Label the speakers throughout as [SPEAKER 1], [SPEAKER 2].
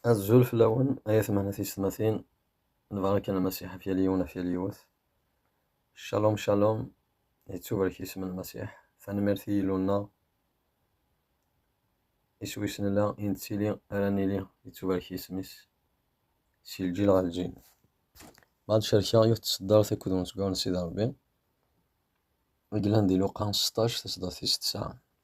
[SPEAKER 1] Azul fell-awen ay atmaten tiysetmatin, lbaraka n Lmasiḥ ɣef yal yiwen ɣef yal yiwet. Shalom shalom, yettubarek yisem n Lmasiḥ. Tanemmirt i Yillu-nneɣ, iswi-s nella, i nettili ara nili, yettubarek yisem-is, si lǧil ɣer lǧil. Ma ad cerkeɣ yiwet tseddart akked umezwaru n Sidi Ṛebbi, i yellan di Luqa seṭṭac, taseddart tis tesɛa.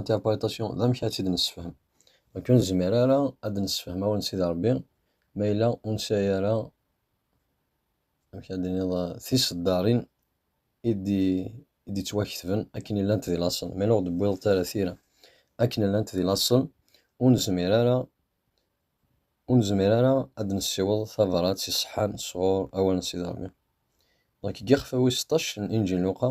[SPEAKER 1] interprétation d amek ad tt-id-nessefhem akken ur nezmir ara ad d-nessefhem awal n Sidi Ṛebbi ma yella ur nesɛi ara amek ad d-niniḍ tiseddarin i d-yettwaketben akken llant di laṣel ma yella ur d-tewwiḍeḍ ara tira akken llant di laṣel ur nezmir ara ur nezmir ara ad d-nessiweḍ tabrat iṣeḥḥan sɣur awal n Sidi Ṛebbi. Donc deg yixef-a wis seṭṭac n Inǧil n Luqa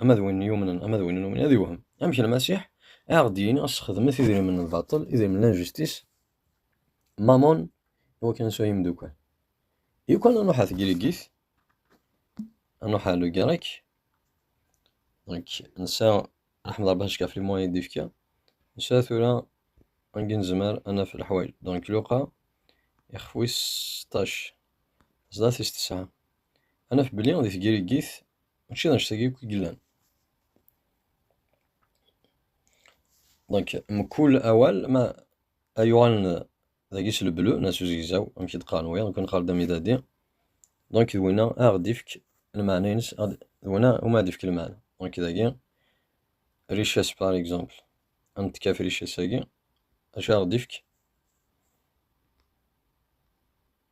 [SPEAKER 1] ama d win yumnen ama d win yumnen ad iwhem amek lmasiḥ a aɣ-d-yini sxedmet idrimen n lbaṭel idrimen n lanjistis mamon i wakken ad sɛun imeddukal yukan ad nuḥa tegrigit ad nuḥa le grec donc nsa raḥmed rebbi acka ɣef limuwan i d-ifka nsa tura angi nezmer ad naf leḥwal donc luqa ixef wis 16 sdat is tesɛa ad naf belli di tgirigit mačči d annect-agi akk i yellan. Donc, mkul awal ma ay uɣalen dagi s leblu na s uzegzaw amek i d-qqaren wiyaḍ nekk nqar-d amidadi donc d winna ad aɣ-d-ifk lmeɛna-ines d winna umi ad d-ifk lmeɛna donc dagi richesse par exemple ad netkaf richesse-agi acu ad aɣ-d-ifk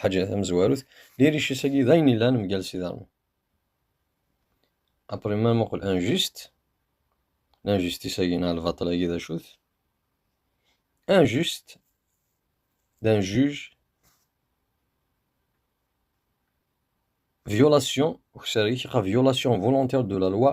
[SPEAKER 1] Ḥaǧa tamezwarut, liric-is-agi d ayen ilan mgal s iḍarren. Après ma muqel injuste, l'injustice-agi neɣ lbaṭel-agi d acu-t? Injuste, d'un juge, violation, ukessar-ik, violation volontaire de la loi,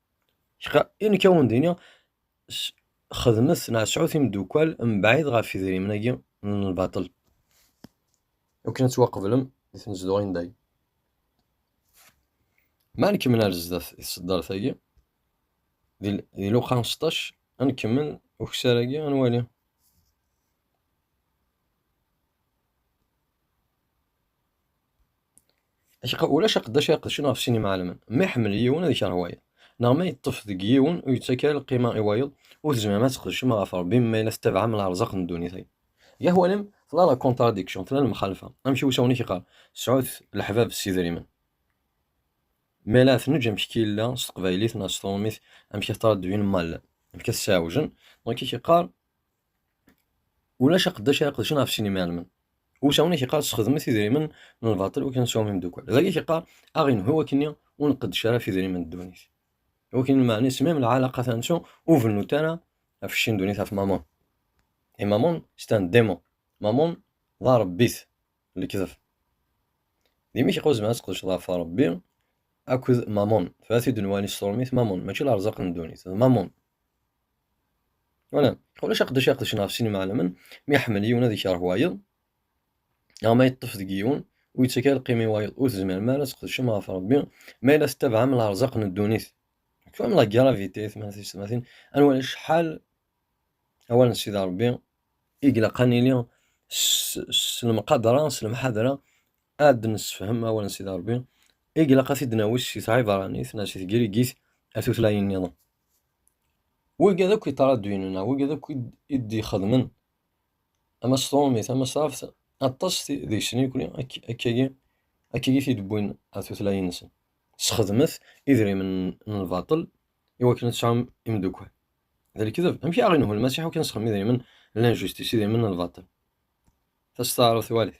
[SPEAKER 1] Kra i nekk ad wen-d-iniɣ, xedmet neɣ sɛut imeddukal mebɛid ɣef idrimen-agi n lbaṭel, akken ad ttwaqeblem di tnezduɣin n dagi. Ma ad nkemmel ar zdat i tseddart-agi, di luqa seṭṭac, ad nkemmel ukessar-agi, ad nwali. Acqa ulac aqeddac ara iqedcen ɣef sin imɛalmen, ma iḥemmel yiwen ad ikerh wayeḍ, neɣ ma yeṭṭef deg yiwen ur yettak ara lqima i wayeḍ, ur tezmirem ad tqedcem ɣef Ṛebbi ma yella tettabaɛem leɛrzaq n ddunit-agi. Gahwa-nem tella la contradiction, tella lemxalfa, amek i usawen-ik iqqar, sɛut leḥbab s idrimen. Ma la tneǧǧ amek i yella s teqbaylit neɣ s trummit, amek i tettṛaddun mal, amek i t-sɛewjen, donc i k-iqqar, Ulac aqeddac ara qedcen ɣef sin imaɛelmen. Usawen i k-iqqar sxedmet idrimen n lbaṭel ur k-neswam imdukkal. Dagi k-iqqar aɣ-inhu wakkenni ur nqeddec ara ɣef idrimen n ddunit. Wakkenni lmeɛna isem-im lɛalaqa tansu ur bennut ara ɣef cci n ddunit ɣef mamun. Et mamun, c'est un démon. Mamun d arebbit n lekdeb. Dimi k-iqqar zemren ad tqedceḍ ɣef Rebbi akked mamun. Tebɛat-id nnwa-nni s tṛumit mamun, mačči lerzaq n ddunit, d mamun. Wala, ulac aqeddac i aqeddac ɣef sin imeɛlamen, mi iḥemmel yiwen ad ikerh wayeḍ, neɣ ma yeṭṭef deg yiwen, ur yettak ara lqima i wayeḍ, ur tezmirem ara ad tqedcem ɣef Rebbi, ma yella tettabaɛem lerzaq n ddunit. Comme la gravité, tmatin, ad nwali acḥal awal n Sidi Rebbi i ilaq ad nili s lemqadra, s lemḥadra, ad d-nessefhem awal n Sidi Rebbi, i ilaq ad t-id-nawi si tɛibranit neɣ si tgrigit ar tutlayin-nniḍen. Wigad akk iṭraduyen neɣ wigad akk i d-ixedmen amasṭrumi, tamasraft, aṭas deg-sen yekni akkagi, akkagi i t-id-wwin ar tutlayin-nsen. Sxedmet idrimen n lbaṭel i wakken ad tesɛum imeddukal. D lekdeb. Amek i aɣ-inhu Lmasiḥ akken nesxedem idrimen n linjustice, idrimen n lbaṭel? Tasteɛruft walit.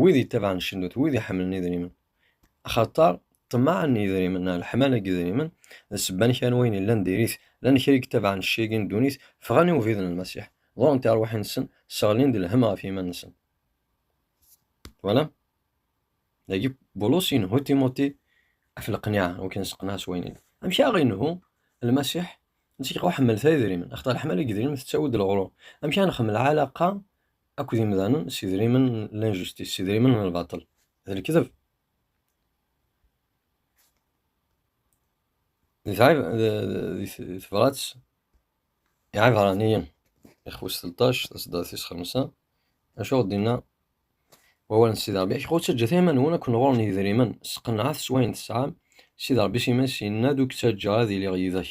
[SPEAKER 1] wid yettabaɛen ccennut, wid iḥemmlen idrimen. Axaṭer ṭṭmeɛ n yidrimen, neɣ leḥmala n yidrimen, d ssebba n kra n wayen yellan diri-t. Llan kra i yettabaɛen ccag-agi n ddunit, ffɣen i ubrid n Lmasiḥ, ḍurren tiṛwaḥin-nsen, sseɣlin-d lhemm ɣef yiman-nsen. Twalam? Dagi Bulus yenhu Timuti ɣef leqniɛa, ur k-nesseqneɛ s wayen yellan. Amek i aɣ-inhu Lmasiḥ? Netta iqeḥmel tayedrimen, axaṭer leḥmala n yedrimen tettawi-d leɣrur. Amek i aɣ-nxemmel ɛalaqa akked imdanen s idrimen n l'injustice, s idrimen n lbaṭel, d lekdeb. Di tebrat Iɛibraniyen, ixwes telṭac, tasedda tis xemsa, acu ɣ-d-inna wawal n Sidi Ṛebbi? Ayɣer ur ttaǧǧat iman-nwen akk nɣur-n yidrimen, sqenɛet s wayen tesɛam, Sidi Ṛebbi s iman-is yenna-d, ur k-ttaǧǧa ara ad iliɣ yid-k,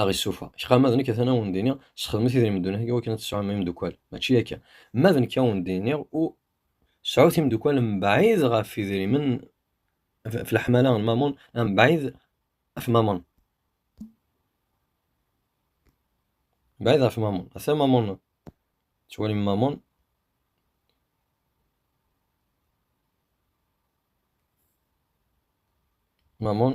[SPEAKER 1] aɣ issufa kra ma d nekk atan awen d iniɣ sxedmet idrimen ddunit agi wakken ad tesɛum imeddukal mačči akka ma d nekk awen d iniɣ u sɛut imeddukal mebɛid ɣef idrimen f leḥmala n mamun mebɛid af mamun mebɛid af mamun ata mamun tettwalim mamun mamun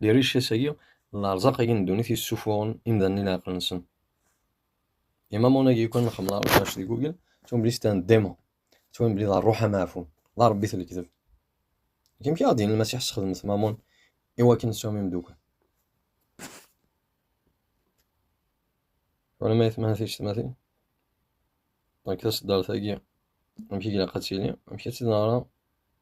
[SPEAKER 1] Di rric-as-agi, lerẓaq-agi n ddunit yessufuɣen imdanen i leɛqel-nsen. Imamun-agi yukan nxemmel arecac di Google, ttwan belli stan ddima, ttwan belli d rruḥ ameɛfun, d arebbit n lekdeb. Akken mi aɣ-d-yenna Lmasiḥ sxedmet Mamun i wakken tesɛum imeddukkal. Twalam ayetma ticetmatin? Dɣa taseddart-agi amek i ilaq ad tili, amek ad tt-id-neɣra,